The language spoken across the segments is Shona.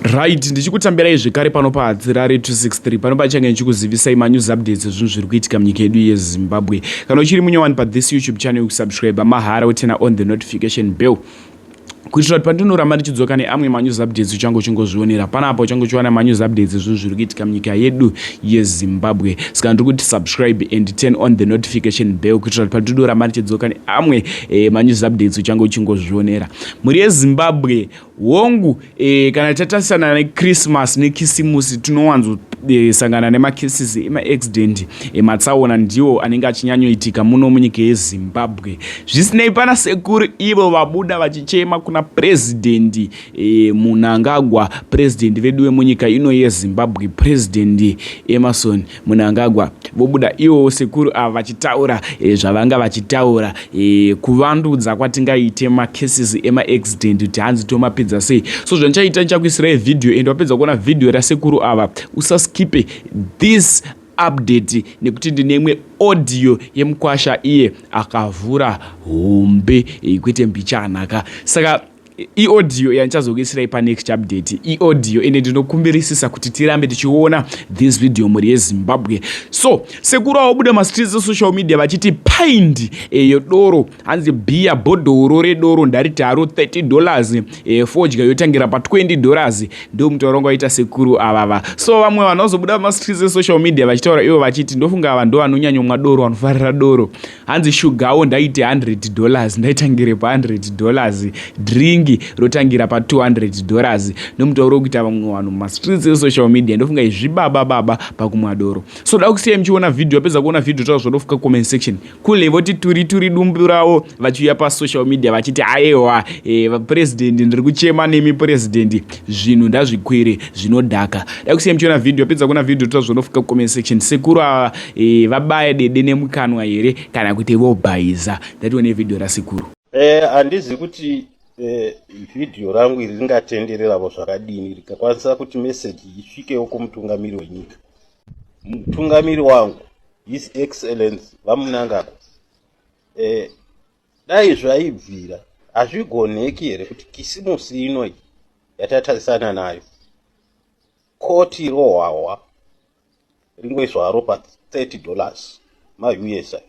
right ndichikutambirai zvekare pano pahadzirare 263 pano pachange ndichikuzivisai manews updates ezvinhu zviri kuitika munyika yedu yezimbabwe kana uchiri munyowani pathis youtube channel yokusubscribe mahara utena on the notification bell kuitira kuti pandinoramba ndichidzoka neamwe manews updates uchange uchingozvionera panapa uchange uchiwana manews updates ezvinhu zviri kuitika munyika yedu yezimbabwe saka ndiri kuti subscribe and turn on the notification bell kuitira kuti pandinoramba ndichidzoka neamwe eh, manews updates uchange uchingozvionera mhuri yezimbabwe Hongu, eh, kana tatarisana nechristmas nekisimusi tinowanzosangana eh, nemacases emaaccident ematsaona eh, ndiwo anenge achinyanyoitika muno munyika yezimbabwe zvisinei pana sekuru ivo vabuda vachichema kuna purezidhendi eh, munangagwa purezidhendi vedu vemunyika ino yezimbabwe purezidhendi emerson Munangagwa vobuda iwo sekuru ava vachitaura e, zvavanga vachitaura e, kuvandudza kwatingaite macases emaaccident kuti hanzi tomapedza sei so zvandichaita ndichakuisirai vhidhiyo and wapedza kuona vhidhiyo rasekuru ava usaskipe this update nekuti ndine imwe audio yemukwasha iye akavhura hombe eh, kwete mbichana ka saka iaudio yandichazokuisirai panext update iaudio ende ndinokumbirisisa kuti tirambe tichiona this video mhuri yezimbabwe so sekuru aobuda mastreets esocial media vachiti pindi eyo doro hanzi bhiya bhodhoro redoro ndariti haro 30 dollars e, fodya yotangira pa20 dollars ndo mutauro ngo aita sekuru avava so vamwe vanhu vazobuda mastreets esocial media vachitaura ivo vachiti ndofunga vanhu ndovanonyanyomwa doro vanofarira doro hanzi shugawo ndaite 100 dollars ndaitangire pa 100 dollars dringi rotangira pa 200 dollars nomutauro wokuita vamwe vanhu mumastreets esocial media ndofunga izvibaba baba pakumwa doro so da kusiyai muchiona vhidhiyo apedza kuona vhidhiyo taura zvodofuka comment section kule voti turi turi dumbu ravo vachiuya pasocial media vachiti aewa e, eh, vapurezidendi ndiri kuchema nemi purezidendi zvinhu ndazvikwire zvinodhaka da kusiyai muchiona vhidhiyo apedza kuona vhidhiyo taura zvodofuka comment section sekuru ava Eh, vabaya dede nemukanwa here kana kuti vobhaiza ndatione vhidhiyo rasekuru eh, handizi eh, kuti eh, vhidhiyo rangu iri ringatendereravo zvakadini rikakwanisa kuti meseji isvikewo kumutungamiri wenyika mutungamiri wangu his excellence vamunangagwa eh, dai zvaibvira hazvigoneki here kuti kisimusi inoi yatatarisana nayo koti rohwahwa ringoiswa haro pa 30 dollars mausa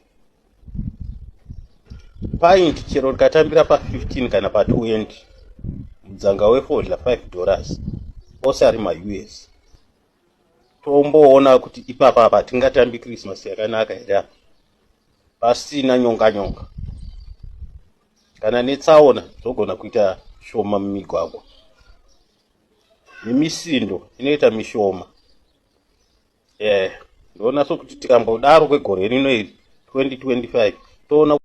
paint chero rikatambira pa 15 kana pa 20 mudzanga wefodya 5 dollars ose ari maus tomboona kuti ipapa apa tingatambi christmas yakanaka here apa pasina nyonga nyonga kana netsaona dzogona kuita shoma mumigwagwa nemisindo inoita mishoma eh ndoona sokuti tikambodaro kwegore rino iri 2025 toona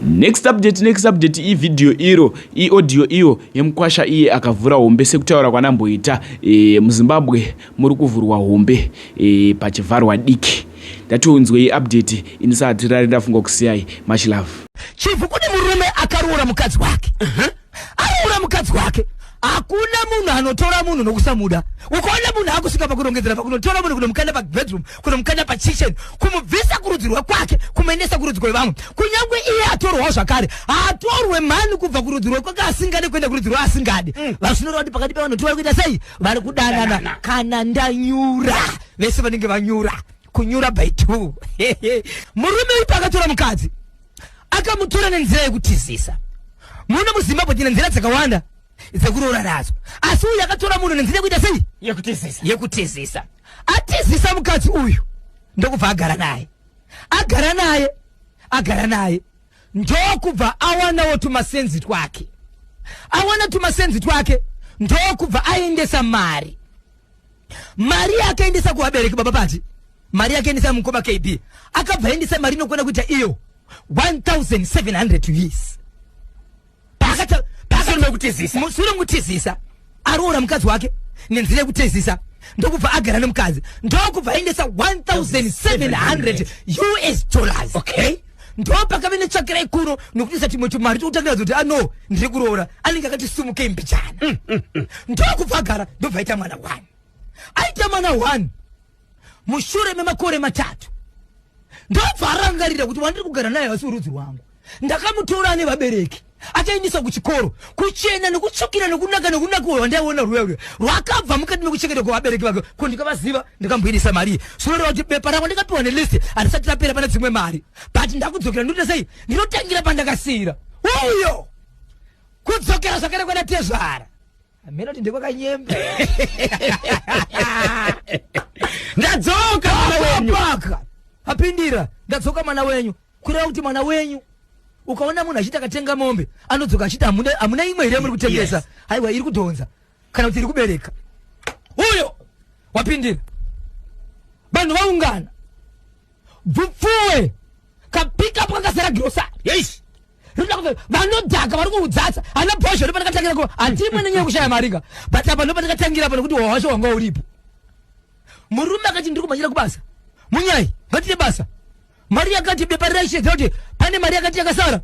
next update next update ividhiyo iro iaudio iyo yemukwasha iye akavhura hombe sekutaura kwanamboita e, muzimbabwe muri kuvhurwa hombe e, pachivharwa diki ndatiunzwei update ini saatirari ndafunga kusiyai much love chivu kune murume akaroora mukadzi wake uh -huh. anoura mukadzi wake hakuna munhu anotora munhu nokusamuda ukaona munhu akusvika pakurongedzera pakunotora munhu kunomukanda pabedroom kunomukanda pachichen kumubvisa kurudzi rwekwake kumuendesa kurudzi kwevamwe kunyange iye atorwawo zvakare haatorwe mhani kubva kurudzi rwekwake asingade kuenda kurudzi rweasingadi mm. vazvinoreva kuti pakati pevanhu tivari kuita sei vari kudanana kana ndanyura vese vanenge vanyura kunyura by two murume uyu pakatora mukadzi akamutora nenzira yekutizisa muno muzimbabwe tina nzira dzakawanda dzekuroora nadzo asi uyu akatora munhu nenzira yekuita sei yekutizisa yekutizisa atizisa mukadzi uyu ndokubva agara naye agara naye agara naye ndokubva awanawo tumasenzi twake awana tumasenzi twake ndokubva aendesa mari mari yaakaendesa kuvabereki baba pati mari yakaendesa mukoma kb akabva aendesa mari inokwana kuita iyo 1700 us paakatamusure mutizisa aroora mukadzi wake nenzira yekutezisa ndokubva agara nemukadzi ndokubva aendesa 1700 us dollars okay ndo pakave netsvakira ikuru nokuti satimwe chimari tokutangira zoti ano ah, ndiri kuroora anenge akati simuke imbijana mm, mm, mm. ndokubvagara ndobva aita mwana one aita mwana one mushure memakore matatu ndobva arangarira kuti wandiri kugara naye hasi urudzi rwangu ndakamutora ane vabereki achaendeswa kuchikoro kuchena nekutsvukira nekunaka nekunaka uyo wandaiona ruya uyo rwakabva mukati mekuchengeta kwevabereki vake ko ndikavaziva ndikamboidisa mari zvinoreva kuti bepa rako ndikapiwa nelist handisati rapera pane dzimwe mari but ndakudzokera ndinoita sei ndinotangira pandakasiira uyo kudzokera zvakare kwana tezvara hameno kuti ndekwakanyemba ndadzoka mwana wenyu apindira ndadzoka mwana wenyu kureva kuti mwana wenyu ukaona munhu achiti akatenga mombe anodzoka achiti hamuna imwe here muri kutengesa haiwa iri kudhonza kana kuti iri kubereka uyo wapindira vanhu vaungana bvupfuwe kapika pakasara girosari rinoda kuve vanodhaka vari kuudzatsa ana bhozho ndopatakatangira kuva handimwe nenyaya yekushaya marika but apa ndopatakatangira apa nekuti hwahwasho hwanga uripo murume akati ndiri kumhanyira kubasa munyai ngatine basa mari yakati bepa raishedza kuti pane mari yakati yakasara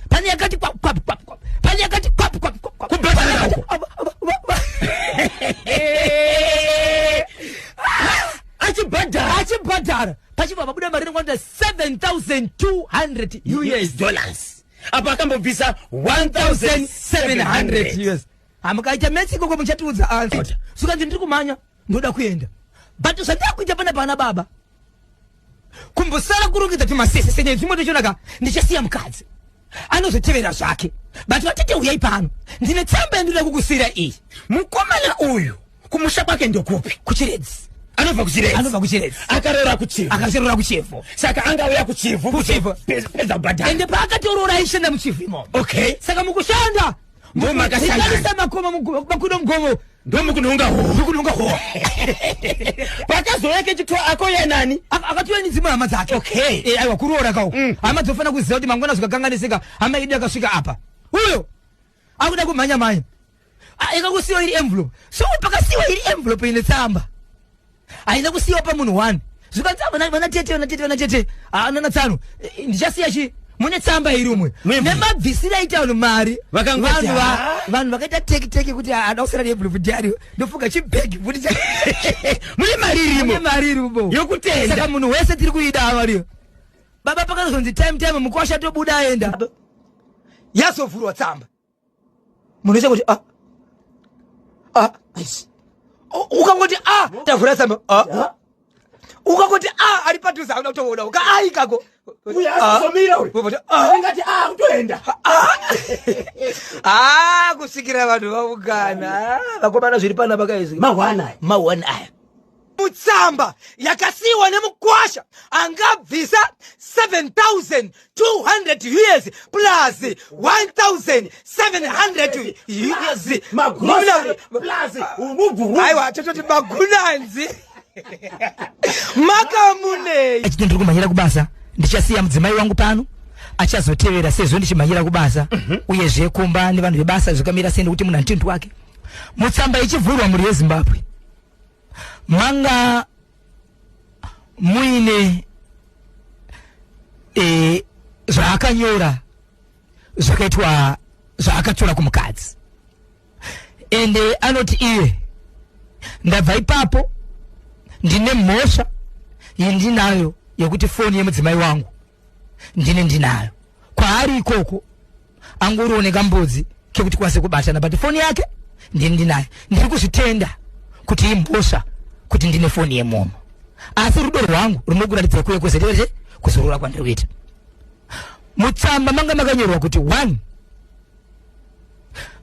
pane yakati pane yakati achibhadhara achibhadhara pachibva pabuda mari inokwanira 7200 us dollars apo akambobvisa 1700 us hamukaita metsi ikoko muchatiudza ansa sukanzi ndiri kumhanya ndoda kuenda but zvandakuita pana pana baba kumbosara kurongedza timasese senyaya zvimwe tochionaka ndichasiya mukadzi anozotevera zvake but vatete uyai pano ndine tsamba yandinoda kukusira iyi mukomana uyu kumusha kwake ndokupi kuchiredzi anobva kuchiredzi anobva kuchiredzi akarora kuchivhu akazorora kuchivhu saka anga uya kuchivhu kuchivhu pedza kubhadhara ende paakatoroora aishanda muchivhu imomo okay saka mukushanda ndomakasaisamakoma makuda mugovo ndomukunonga homukunonga ho pakazouya kechitwa ako yenani akatouya nedzimwe hama dzake okay eh, aiwa kuroora kawo mm. hama dzofanira kuziva kuti mangwana zvikakanganisika hama idi akasvika apa uyo akuda kumhanya mhanya ikakusiwa iri envelope so pakasiwa iri envelope ine tsamba haina kusiyiwa pamunhu one zvikanzi ah, vana tete vana tete vana tete haanana ah, tsano eh, ndichasiya chii mune tsamba iri umwe nemabvisira aita vanhu mari vanhu vakaita teki teki kuti ada kusara neblufu diario ndofunga chibhegi futi mune mari irimo mari irimo yokutendasaka munhu wese tiri kuida avariyo baba pakazonzi time time mukwasha tobuda aenda yazovhurwa tsamba munoita kuti ah, ah, ukangoti a ah, tavhura samba ah, ukangoti a ah, ari padhuze auda kutoona ka a ikako a kusvikira vanhu vaungana vakomana zviri pana vakaizimahwan aya tsamba yakasiyiwa nemukwasha angabvisa 7200 us plus 1700 us aiwa tototi magunanzi makamunei achiti ndiri kumhanyira kubasa ndichasiya mudzimai wangu pano achazotevera sezvo ndichimhanyira kubasa mhm. uyezve kumba nevanhu vebasa zvakamira sei nekuti munhu antindu wake mutsamba ichivhurwa mhuri yezimbabwe manga muine e, zvaakanyora zvakaitwa zvaakatora kumukadzi ende anoti iye ndabva ipapo ndine mhosva yendinayo yekuti foni yemudzimai wangu ndini ndinayo kwaari ikoko angoriwo nekambudzi kekuti kwase kubatana but foni yake ndini ndinayo ndiri kuzvitenda kuti imbosva kuti ndine foni yemomo asi rudo rwangu runokuratidza kuye kuzetere kuzorora kwandiri kuita mutsamba manga makanyorwa kuti one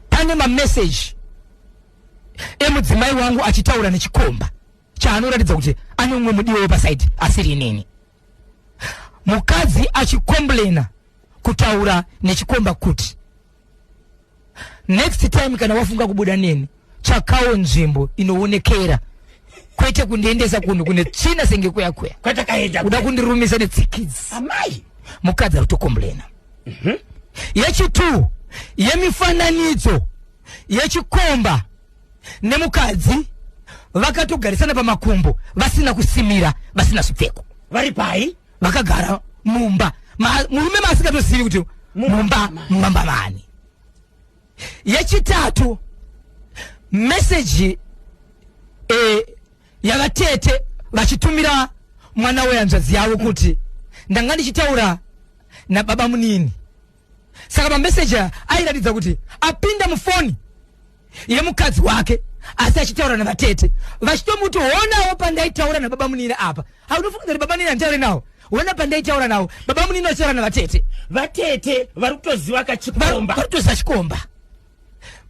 pane mameseji emudzimai wangu achitaura nechikomba chaanoratidza kuti ane umwe mudiwo wepasaidi asiri inini mukadzi achikomblena kutaura nechikomba kuti next time kana wafunga kubuda neni tsvakawo nzvimbo inoonekera kwete kundiendesa kunhu kune tsvina senge kuya kuya uda kundirumisa netsikidzi mukadzi ari kutokomblena mhm. yechitwo yemifananidzo yechikomba nemukadzi vakatogarisana pamakumbo vasina kusimira vasina zvipfeko vari pai vakagara mumba murume maasingatozivi kuti mumba mumba mavani yechitatu meseji e, eh, yavatete vachitumira mwana wehanzvadzi yavo kuti ndanga ndichitaura nababa munini saka mameseji aya airatidza kuti apinda mufoni yemukadzi wake asi achitaura navatete vachitomuti honawo pandaitaura nababa munini apa haunofunga kuti baba munini anditaure nawo hona pandaitaura nawo baba munini vachitaura navatete vatete vari kutoziva kachikomba vari kutoziva chikomba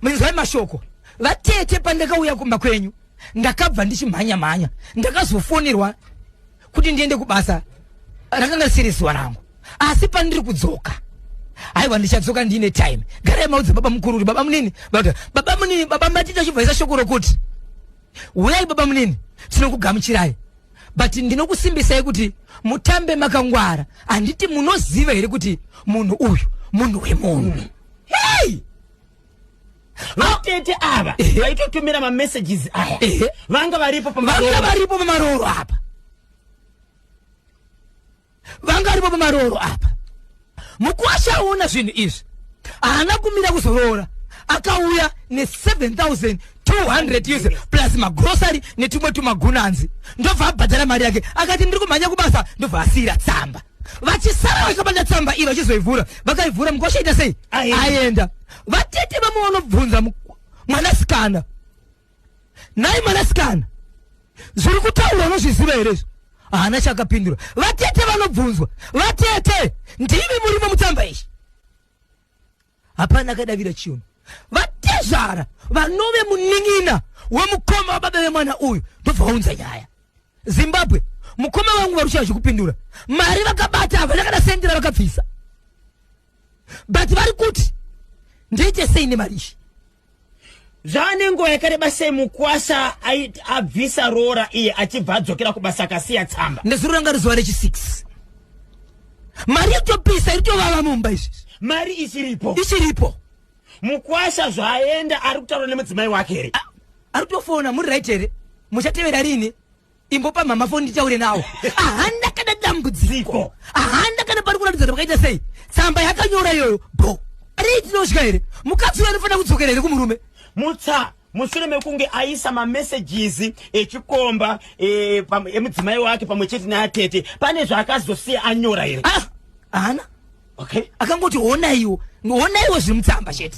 munzwai mashoko vatete pandakauya kumba kwenyu ndakabva ndichimhanya mhanya ndakazofonirwa kuti ndiende kubasa rakanga risiri zuva rangu asi pandiri kudzoka haiwa ndichadzoka ndiine time garai maudze baba mukuru kuti baba munini baba baba munini baba matita chibvaisa shoko rokuti huyai baba munini tinokugamuchirai but ndinokusimbisai kuti mutambe makangwara handiti munoziva here kuti munhu uyu munhu wemunhu hey! vatete ava vaitotumira mamessages aya vanga varipo vanga varipo pamarooro apa vanga varipo pamarooro apa mukwasha aona zvinhu izvi haana kumira kuzoroora akauya ne7 200 us plus magrosary netumwe tumagunanzi ndobva abhadhara mari yake akati ndiri kumhanya kubasa ndobva asiyira tsamba vachisara vakabata tsamba iyi vachizoivhura vakaivhura mukosha ita sei aenda vatete vamwe vanobvunza mwanasikana nhai mwanasikana zviri kutaura unozviziva here izvo haana chakapindura vatete vanobvunzwa vatete ndimi murimo mutsamba izvi hapana akadavira chinhu vatezvara vanove munin'ina wemukoma wababa vemwana uyu ndobva vaunza nyaya zimbabwe mukoma vangu vari kushaya zvekupindura mari vakabata havana kana sendera vakabvisa but vari kuti ndiite sei nemari izvi Zvava nenguva yakareba sei mukwasha abvisa roora iye achibva adzokera kubasa akasiya tsamba. Ndezuro ranga rizuva rechi 6 mari yotopisa iri tovava mumba izvi mari ichiripo ichiripo mukwasha zvaenda ari kutaura nemudzimai wake here ari kutofona muri right here muchatevera rini imbopa mama foni nditaure nawo ahanda kana dambudziko ahanda kana pari kuratidza kuti vakaita sei tsamba yakanyora iyoyo bho rei tinosvika here mukadzi uyo anofanira kudzokera here kumurume mutsa mushure mekunge aisa mamesages echikomba eh, emudzimai wake pamwe chete neatete pane zvaakazosiya anyora here ah, hana okay akangoti honaiwo honaiwo zviri mutsamba chete